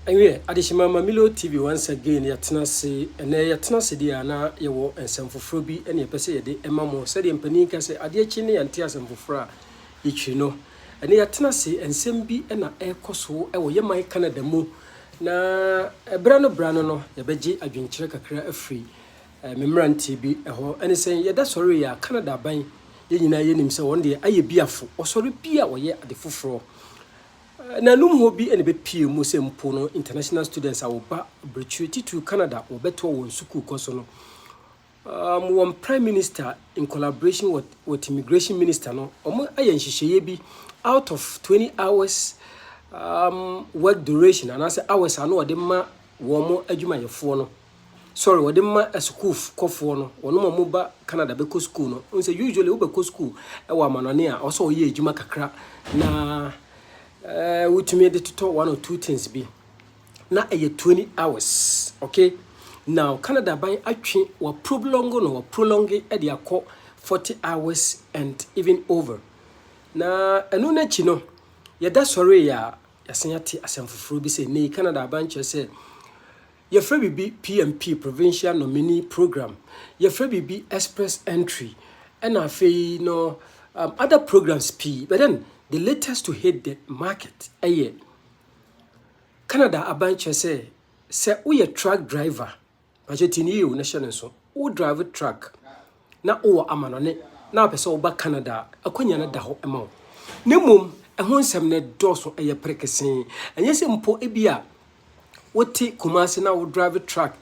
Ewiɛ, adehyema ma Milo TV once again yɛatena ase. Ɛnnɛ yɛatena ase deɛ a na yɛwɔ nsɛm foforɔ bi ne yɛpɛ sɛ yɛde ma mo. Sɛdeɛ mpanin ka sɛ adeɛ kye ne yɛnte asɛm foforɔ a yɛkyiri no. Ɛnnɛ yɛatena ase nsɛm bi na ɛrekɔ so wɔ yɛ man Canada mu na berɛ no berɛ ano no yɛbɛgye adwenkyerɛ kakra afiri eh, me mmeranteɛ bi hɔ. Ɛne sɛ yɛda sɔre yɛ a Canada aban yɛn nyinaa yɛnim sɛ wɔn deɛ ayɛ biafo. Wɔsɔre bi a wɔyɛ ade foforɔ. Nanom hɔ bi na ebepue mu sɛ mpo no International Students a wɔba abirekyiri titiriw Canada wɔbɛtoa wɔn sukuu kɔ so no, um, wɔn Prime Minister in collaboration with, with Immigration Minister no, wɔn ayɛ nhyehyɛeɛ bi out of 20 hours um, work duration anaasɛ hours a na wɔde ma wɔn adwumayɛfoɔ no. Sorry, wɔde ma asukuukɔfoɔ no, wɔnom a wɔba Canada bɛkɔ sukuu no. Wohu sɛ usually wobɛkɔ sukuu wɔ amanɔne a, ɛwɔ sɛ woyɛ adwuma kakra na eh, wotumi de totɔ one or two things bi. Na ɛyɛ 20 hours, okay? Now, Canada aban atwe wa prolongo no, wa prolonge de akɔ 40 hours and even over. Na ɛno no akyi no, yɛda sɔree a, yɛasan ate asɛm foforɔ bi sɛ, nei Canada aban kyerɛ sɛ, Yɛfrɛ biribi PMP, Provincial Nominee Program, yɛfrɛ biribi Express Entry, ɛna afei no um, other programs pii. But then the latest to hit the market ɛyɛ Canada aban kyerɛ sɛ sɛ woyɛ truck driver, pakyɛ tini yɛ o na hyɛ no nso, wo drive truck na wowɔ amanɔne na wopɛ sɛ woba Canada a, akwanya no da hɔ ma wo. Na mmom ɛho nsɛm no dɔɔso, ɛyɛ perekesee. Ɛnyɛ sɛ mpo ebia wote Kumasi na wo drive truck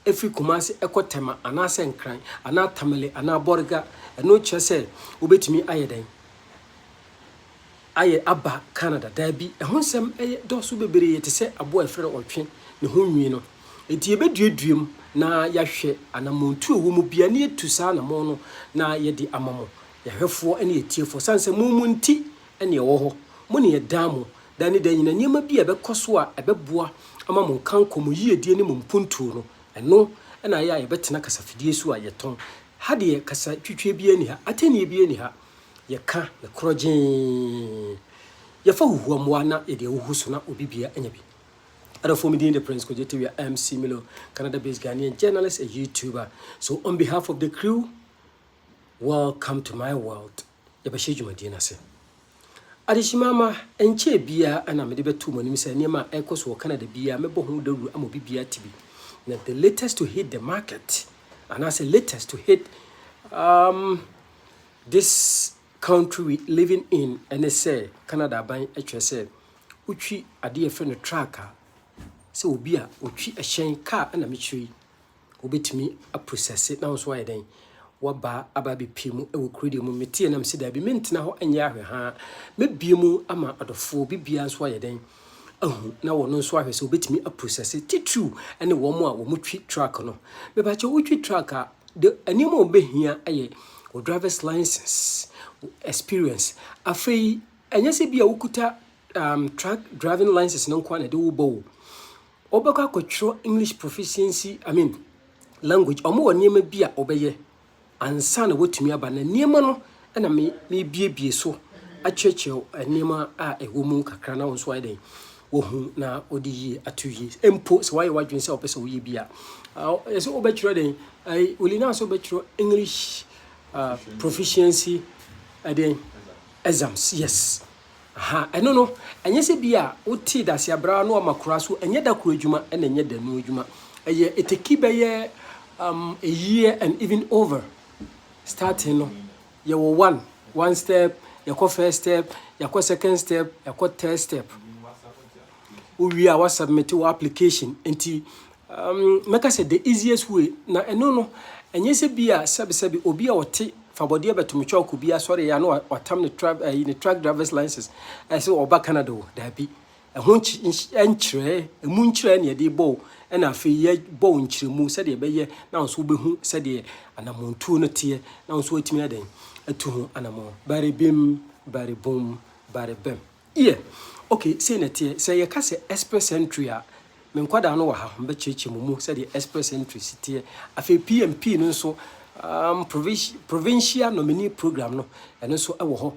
firi Kumasi kɔ Tema anaasɛ Nkran anaa Tamale anaa Borga, ɛno kyerɛ sɛ wobɛtumi ayɛ dɛn? ayɛ aba Canada? Dabi, ɛho nsɛm yɛ dɔɔso bebree te sɛ aboa a yɛfrɛ no ɔtwe ne ho nwi no. Enti yebeduadua mu na yɛahwɛ anamɔntu a ɛwɔ mu biara na yɛatu saa anamɔn no na yɛde ama mo, yɛn ahwɛfoɔ ne yɛn atiefoɔ. Ɛsiane sɛ mo mu nti na yɛwɔ hɔ. Mo ne yɛn daa mu, da ne da nyinaa. Nneɛma bi a ɛbɛkɔ so a ɛbɛboa ama mo nkankɔ, mo yiedie ne mo mpuntuo no, ɛno na ayɛ a yɛbɛtena kasafidie so a yɛtɔn. Ha deɛ, kasa twitwie biara nni ha. Atɛnnie biara nni ha. Yɛka no korɔgyeen. Yɛfa huhuamoa na yɛde ahuhu so na obi bia anya bi. Adɔfoɔ, me din de Prince Kogye Tewia MC Milo, Canada-based Ghanaian journalist and YouTuber. So on behalf of the crew, welcome to my world. Yɛbɛhyɛ dwumadie no ase. Adehyemama, ɛnkyɛɛ biara na mede bɛto mo anim sɛ nneɛma a ɛrekɔ so wɔ Canada biara mɛbɔ ho dawuro ama obi biara te bi. Na the latest to hit the market, anaasɛ latest to hit um, this country we living in ɛne sɛ Canada aban kyerɛ sɛ wotwi adeɛ a yɛfrɛ no truck a sɛ obi a ɔtwi ɛhyɛn kaa ɛna mekyerɛ yi wobɛtumi aprosɛse na wo nso ayɛ dɛn waba aba abɛpie mu wɔ kuro deɛ mu meteɛ nam sɛ daabi mentena hɔ nyɛ ahwɛ ha mɛbie mu ama adɔfoɔ bibia nso ayɛ dɛn ahu na wɔn nso ahwɛ sɛ wobɛtumi aprosɛse titiriw ne wɔn a wɔtwi truck no mebakyɛ wotwi truck a de nneɛma a wɔbɛhia yɛ wo driver's license, wo experience. Afei ɛnyɛ sɛ bi a wokuta um, truck driving license no nko ara na ɛde wobɔ wo. Wobɛkɔ akɔtwerɛ English proficiency, I mean language. Wɔn wɔ nneɛma bi a wɔbɛyɛ ansa na wɔatumi aba na nneɛma no na mebiebie so akyerɛkyerɛ nneɛma a ɛwɔ mu kakra na wo nso ayɛ dɛn wahu na ɔde yie ato yie mpo sɛ wayɛ w'adwene sɛ wopɛ sɛ woyɛ bi a ɛsɛ wobɛtwerɛ dɛn olina sɛ wobɛtwerɛ english uh, proficiency ɛdɛn exams yes ha ɛno no ɛnyɛ sɛ bi a wotee dase abraa na wama koraa so ɛnyɛ da koro adwuma ɛna ɛnyɛ da nu adwuma ɛyɛ ɛtɛki bɛyɛ um, a year and even over starting no Yɛwɔ one, one step, yɛkɔ first step, yɛkɔ second step, yɛkɔ third step. Wowie a wasubmit wo application. Nti um, mɛka sɛ the easiest way, na ɛno no, ɛnyɛ sɛ bi a sɛbesɛbe obi a ɔte fabɔdeɛ bɛtometwa ɔkɔ bi asɔre yɛ a na watam ne, tra, eh, ne truck driver's license ɛsɛ ɔba Canada o, daabi. Ɛho nkyerɛɛ, ɛmu nkyerɛɛ na yɛde bɔ wo, ɛna afei yɛbɔ wo nkyerɛmu sɛdeɛ ɛbɛyɛ na wo nso wobɛhu sɛdeɛ anammɔntuo no teɛ na wo nso woatumi ayɛ dɛn atu ho anammɔn. Bari bim, bari bum, bari bɛm. Yɛ, ok, sei na ɛteɛ. Sɛ yɛka sɛ express entry a, me nkwadaa no wɔ ha, mɛkyerɛkyerɛ mo mu sɛdeɛ express entry si teɛ. Afei PMP no nso, um, provincial nominee program no, ɛno nso ɛwɔ hɔ.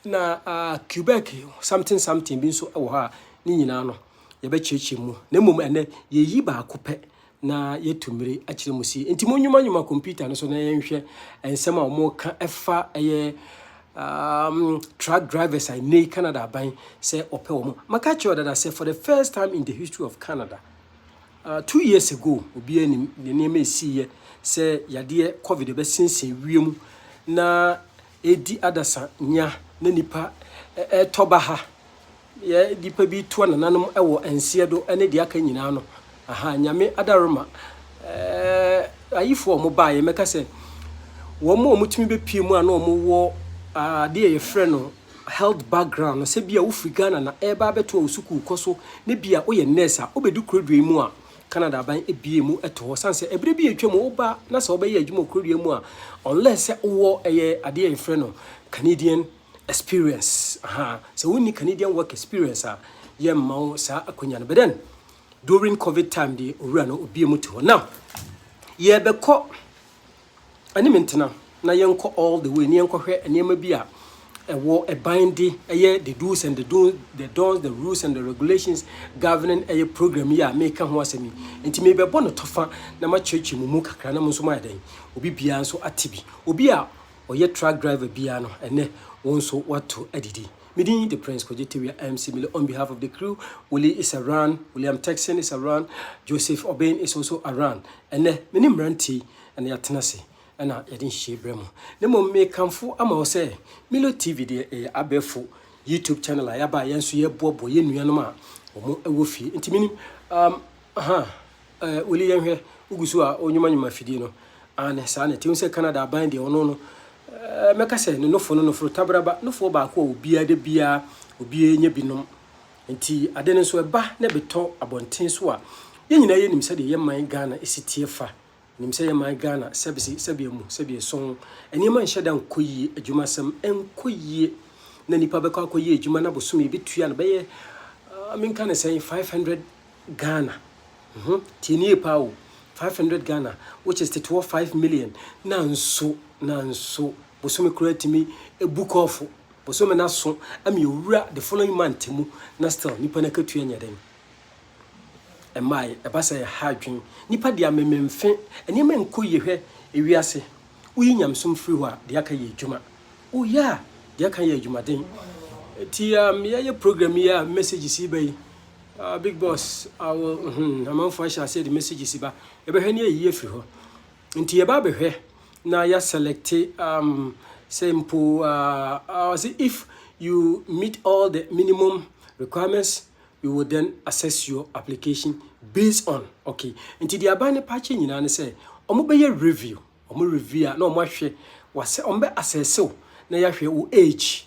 Na Quebec something something bi nso wɔ hɔ a ne nyinaa no yɛbɛkyerɛkyerɛ mu. Na mmom ɛnɛ yɛyi baako pɛ na yɛtu mmere akyerɛ mu si. Nti monwumanwuma computer no so na yɛnhwɛ nsɛm a wɔka ɛfa ɛyɛ um, truck drivers a nnɛ Canada aban sɛ ɔpɛ wɔn. Maka kyerɛ dada sɛ for the first time in the history of Canada, uh, two years ago, obiara nim nneɛma ɛsiiɛ sɛ yadeɛ covid ɛbɛsensen wiem na Ɛredi adasa nea na nnipa retɔ ba ha, deɛ nnipa bi toa nananom wɔ nseɛ do ne deɛ aka nyinaa no, aha, Nyame adaworoma eh, ayifoɔ a wɔn baeɛ, mɛka sɛ wɔn a wɔtumi bɛpie mu a na wɔn wɔ adeɛ yɛfrɛ no health background no, sɛ bi a wofiri Ghana na ɛreba abɛtoa wo sukuu kɔ so, ne bi a woyɛ nurse a wobɛdu kuroduo yi mu a, Canada aban abue mu to hɔ sane sɛ ɛberɛ bi atwa mu woba na sɛ wobɛyɛ adwuma okrodua mu a unless sɛ wowɔ ɛyɛ adeɛ a yɛfrɛ no Canadian experience aha sɛ wonni Canadian work experience a yɛmma wo saa akwanya no but then during covid time deɛ owura no obue mu to hɔ now yɛbɛkɔ ɛne me ntena na yɛnkɔ all the way na yɛnkɔhwɛ nneɛma bi a ɛwɔ ɛban de ɛyɛ the do's and the don'ts, the don'ts, the rules and the regulations governing ɛyɛ program yi a meka ho asɛm yi. Nti mebɛbɔ no tɔfa na makyerɛkyerɛ mu mu kakra na mo nso moayɛ dɛn? Obi biara nso ate bi. Obi a ɔyɛ truck driver biara no, ɛnɛ wo nso woato adidi. Me din de Prince Kwadwo Tewia MC Mele on behalf of the crew. Willie is around, William Texan is around, Joseph Obeng is also around. Ɛnɛ me ne mmeranteɛ yi na yɛatena ase na yɛde nhyehyɛe brɛ mo. Na mmom mekamfo ama wo sɛ Milo TV deɛ ɛyɛ abɛɛfo YouTube channel a yɛaba a yɛn nso yɛboaboa yɛn nuanom a wɔn wɔ fie. Nti menim um, aha, uh, weli yɛnhwɛ wogu so a wonwomanwoma afidie no ane saa na ɛte sɛ Canada aban deɛ ɔno no uh, mɛka sɛ ne nofo no noforo tabraba nofoɔ baako a obiara da biara obiara nya binom Nti ade no nso ɛba na ɛbetɔ abɔnten so a, yɛn nyinaa yɛnim sɛdeɛ yɛn man Ghana si teɛ fa. Yɛnim sɛ yɛn man Ghana sɛbse sɛdeɛ mu, sɛdeɛ sɔn. Nneɛma nhyɛ da nkɔ yie, adwumasɛm nkɔ yie. Na nipa bɛkɔ akɔyɛ adwuma na bosome yɛbɛtua no bɛyɛ ah, menka no sɛn, 500 Ghana. Mhm, tie nie paa o, 500 Ghana which is tetewɔ 5 million. Nanso, nanso bosome koraa tumi bu kɔɔfo. Bosome na so ama yɛwura the following month mu na still nipa no akatua nyɛ dɛn mmaeɛ, ɛba saa ɛha adwen nipa deɛ amememfe, nneɛma nkɔ yie hwɛ ewiase, woyi nyamesom firi hɔ a deɛ aka yɛ adwuma, oh yeah deɛ aka yɛ adwumaden, nti um, yɛyɛ program yi a messages yi ba yi uh, big boss awo uh, hmm, amanfoɔ ahyɛ aseɛ de messages ba, yɛbɛhwɛ ne ayiyie afiri hɔ Nti yɛba abɛhwɛ na yɛ selecte um, sɛ mpo uh, uh, say if you meet all the minimum requirements we will then assess your application based on okay nti deɛ aban no pakyɛ nyinaa ne sɛ wɔbɛyɛ review wɔn review a na wɔahwɛ wɔasɛ wɔbɛ assess na yɛahwɛ wo age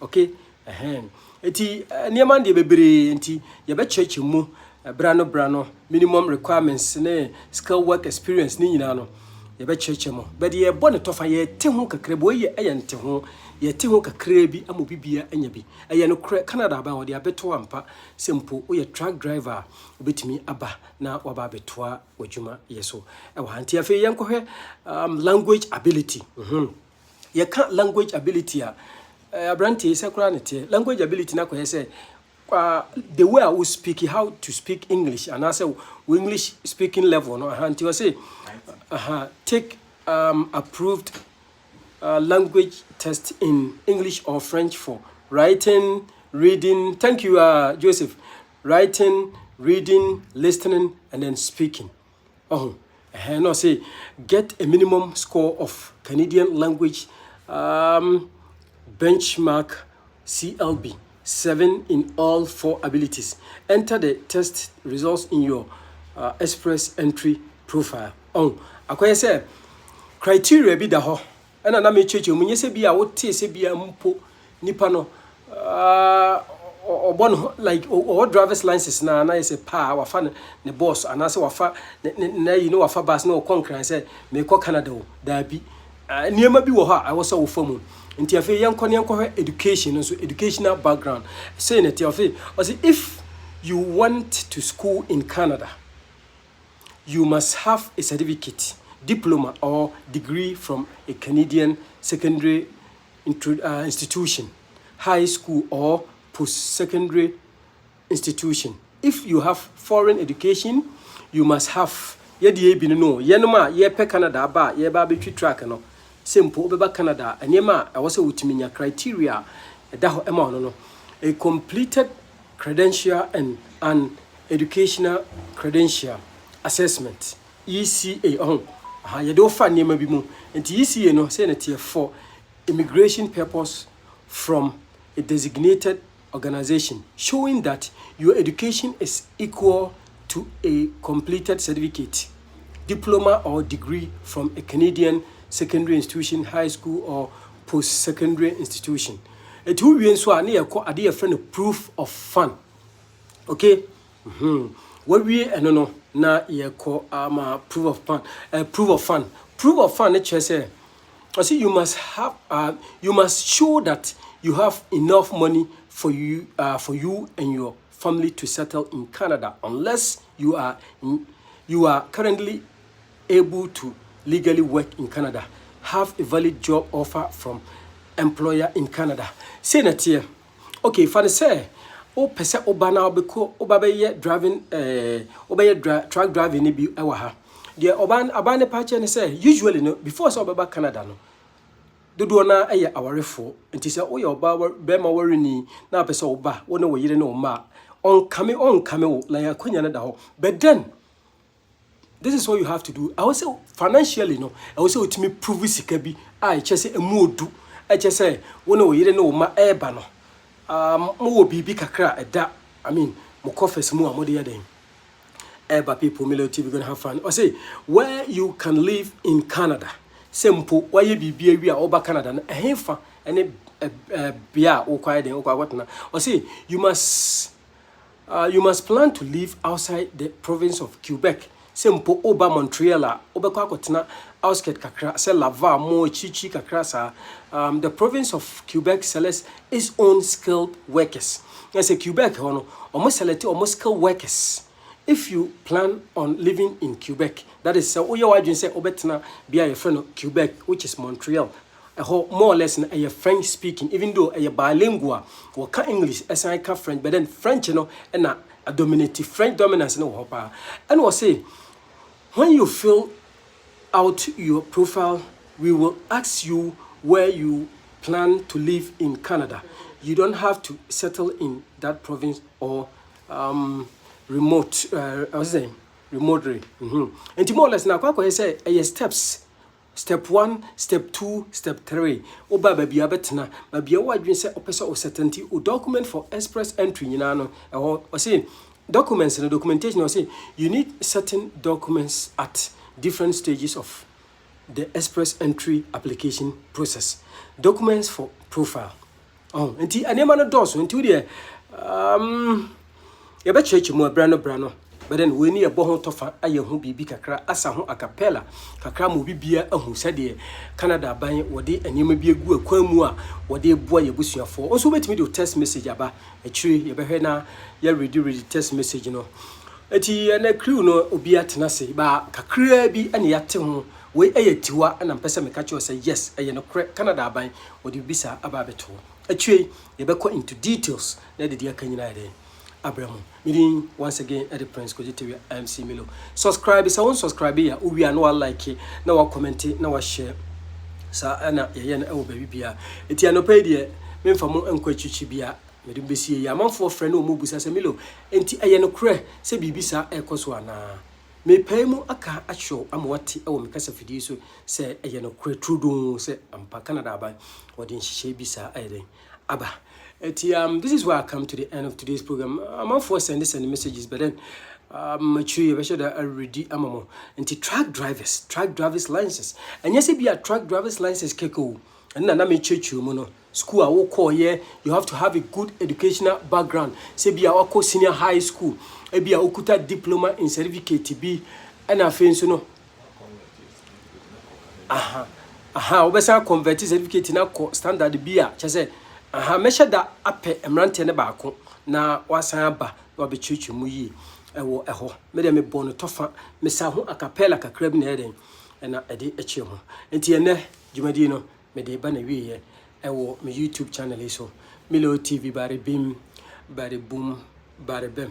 Okay ɛhɛn eti nneɛma no deɛ bebree nti yɛbɛkyerɛkyerɛ mu berɛ ano berɛ ano minimum requirements ne skill work experience ne nyinaa no yɛbɛkyerɛkyerɛ mu bɛde yɛbɔ ne tɔfa yɛte ho kakra bi wɔyɛ ɛyɛ nte ho yɛte ho kakra bi ama obi bia anya bi ɛyɛ no korɛ Canada aban wɔde abɛto ampa sɛ mpo woyɛ truck driver a wobɛtumi aba na waba abɛtoa w'adwuma yɛ so ɛwɔ ha nti afei yɛnkɔhwɛ um, language ability mm -hmm. yɛka language ability a, eh, aberanteɛ yi sɛ koraa ne teɛ. Language ability no akɔyɛ sɛ uh, the way a wo speak how to speak English anaasɛ wo English speaking level no aha nti ɔse aha take um, approved uh, language test in English or French for writing, reading. Thank you, uh, Joseph. Writing, reading, listening, and then speaking. Ɔho ɛhɛn na ɔse get a minimum score of Canadian language um, benchmark CLB 7 in all four abilities. Enter the test results in your uh, express entry profile. Ɔho akɔyɛ sɛ criteria bi da hɔ ɛna na mekyerɛkyerɛ mu, nyɛ sɛ bi a wotee sɛ bi a mpo nipa no ɔbɔ ne ho like ɔwɔ drivers license na na yɛ sɛ paa wafa ne ne bɔs anaasɛ wafa ne ne na yi ne wafa bus na ɔkɔ nkran sɛ meekɔ Canada o daabi nneɛma bi wɔ hɔ a ɛwɔ sɛ wofa mu nti afei yɛnkɔ ne yɛnkɔhwɛ education nso educational background sei na ɛte afei ɔsɛ if you went to school in Canada you must have a certificate, diploma or degree from a Canadian secondary institution, high school or post-secondary institution. If you have foreign education, you must have yɛde yɛ bi no no yɛnom a yɛpɛ Canada aba a yɛba abɛtwi track no sɛ mpo wobɛba Canada a nneɛma a ɛwɔ sɛ wotumi nya criteria a ɛda hɔ ɛma ɔno no a completed Credential and and Educational Credential Assessment, ECA, ɔho, aha, yɛde wo fa nneɛma bi mu. Nti ECA no, sɛ na teɛ for immigration purpose from a designated organization showing that your education is equal to a completed certificate, diploma or degree from a Canadian secondary institution, high school or post-secondary institution. Ɛti wowie nso a ne yɛkɔ ade yɛfrɛ no proof of fund. Okay? Mm -hmm. Wawie ɛno no na yɛkɔ ama uh, proof of fund. Uh, proof of fund. Proof of fund ne kyerɛ sɛ I say you must have, uh, you must show that you have enough money for you, uh, for you and your family to settle in Canada unless you are you are currently able to legally work in Canada, have a valid job offer from employer in Canada. Say na teɛ. Okay, fa ne sɛ wopɛ sɛ woba na wobɛkɔ woba bɛyɛ driving eh, wobɛyɛ dra, truck driving no bi wɔ ha. Deɛ ɔbaa ne paakyɛ ne sɛ usually no before sɛ wobɛba Canada no Dodoɔ no ara yɛ awarefoɔ, nti sɛ woyɛ ɔbaa wa barima wareni na wopɛ sɛ wo ba, wo ne wo yere ne wo mma a, ɔnkame ɔnkame wo, na yɛn akwanya no da hɔ. But then, this is what you have to do, ɛwɔ sɛ financially no, ɛwɔ sɛ wotumi prove sika bi a ɛkyɛ sɛ ɛmu odu, ɛkyɛ sɛ wo ne wo yere ne wo mma ɛreba no, ah, mowɔ biribi kakra a ɛda, I mean, mo coffers mu a mode yɛ dɛn? ɛba people milo tv gonna have fun ɔse where you can live in canada sɛ mpo wayɛ biribi awi a ɔba canada no ɛhefa ɛne bea a wokɔ ayɛ den wokɔ akɔtena ɔse you must uh, you must plan to live outside the province of quebec sɛ mpo woba montreal a wobɛkɔ akɔtena outskirt kakra sɛ laval mo akyirikyiri kakra saa um, the province of quebec sells is own skilled workers na sɛ Quebec hɔ no ɔmo select ɔmo skilled workers if you plan on living in Quebec that is sɛ woyɛ w'adwene sɛ wobɛtena bia yɛfrɛ no Quebec which is Montreal ɛhɔ more or less no ɛyɛ French speaking even though ɛyɛ bilingual wɔka English ɛsan ka French but then French no ɛna dominate French dominance no wɔ hɔ paa ɛna ɔse when you feel out your profile we will ask you where you plan to live in Canada you don't have to settle in that province or um, remote uh, ɔsɛ sɛ remotely mhm nti more or less na akɔ akɔyɛ sɛ ɛyɛ steps step one step two step three woba baabi a bɛtena baabi a woadwene sɛ ɔpɛ sɛ ɔsɛtɛnti o document for express entry nyinaa no ɛhɔ ɔsɛ Documents no, documentation, ɔse you need certain documents at different stages of the express entry application process, documents for profile. Oh, nti nneɛma no dɔɔso nti wodeɛ um, yɛbɛkyerɛkyerɛ mu berɛ no berɛ no bɛdɛ no wei ne yɛbɔ ho tɔfa ayɛ ho biribi kakra asa ho acapella kakra ma obi bia ahu sɛdeɛ canada aban wɔde nneɛma bi agu akwan mu a wɔde boa yɛ abusuafoɔ nso wobɛtumi de text message aba Akyire yi yɛbɛhwɛ na yɛ ready ready text message no. Eti ɛnɛ crew no obi atena ase ba kakraa bi ɛna yɛate ho wei ɛyɛ tiwa ɛna mpɛ sɛ meka kyerɛ sɛ yes ɛyɛ no korɛ Canada aban wɔde bibi saa aba abɛto hɔ. Akyire yi yɛbɛkɔ into details na yɛde deɛ aka nyinaa ɛdɛn abrɛ mo. Me din once again ɛde Prince Kwadzi Tewia MC Milo. Subscribe sɛ wɔn subscribe a wowie a na wa like na wa comment na wa share saa ɛna yɛyɛ no ɛwɔ baabi biara. Eti anɔpa yi deɛ. Memfa mo nkɔ akyirikyiri biara. Mede mo besie yi. Amanfoɔ frɛ na wɔbisa sɛ, Milo, enti ɛyɛ nokorɛ sɛ biribi saa rekɔ so anaa? Merepae mu aka akyerɛ wo ama woate wɔ me kasafidie so sɛ ɛyɛ nokorɛ turodoo sɛ ampa Canada aban wɔde nhyehyɛe bi saa ayɛ dɛn? aba. Enti um, this is where I come to the end of today's program. Amanfoɔ sɛnde sɛnde messages but then um, akyiri yɛbɛhyɛ da awuredi ama mo. Enti truck drivers, truck drivers license. Ɛnyɛ sɛ bi a truck drivers license kɛkɛ o. Ɛno na na mekyerɛkyerɛ mu no. School a wokɔɔeɛ, you have to have a good educational background. Sɛ ebia wakɔ senior high school, ebia wokuta diploma in certificate bi, ɛna afei nso no, aha, aha, wobɛsan akɔnvɛte certificate no akɔ standard bi a, kyɛ sɛ, aha, mɛhyɛ da apɛ mmeranteɛ no baako na wasan aba na wabɛkyerɛkyerɛ mu yie ɛwɔ ɛhɔ. Me deɛ mebɔ no tɔfa, mesa ho akapɛla kakra bi na ɛyɛ dɛn, ɛna ɛde kyerɛ mu. Nti ɛnɛ, Dwumadie no mede reba n'awieɛ ɛwɔ me YouTube channel yi so Milo TV bare bim bare bum bare bɛm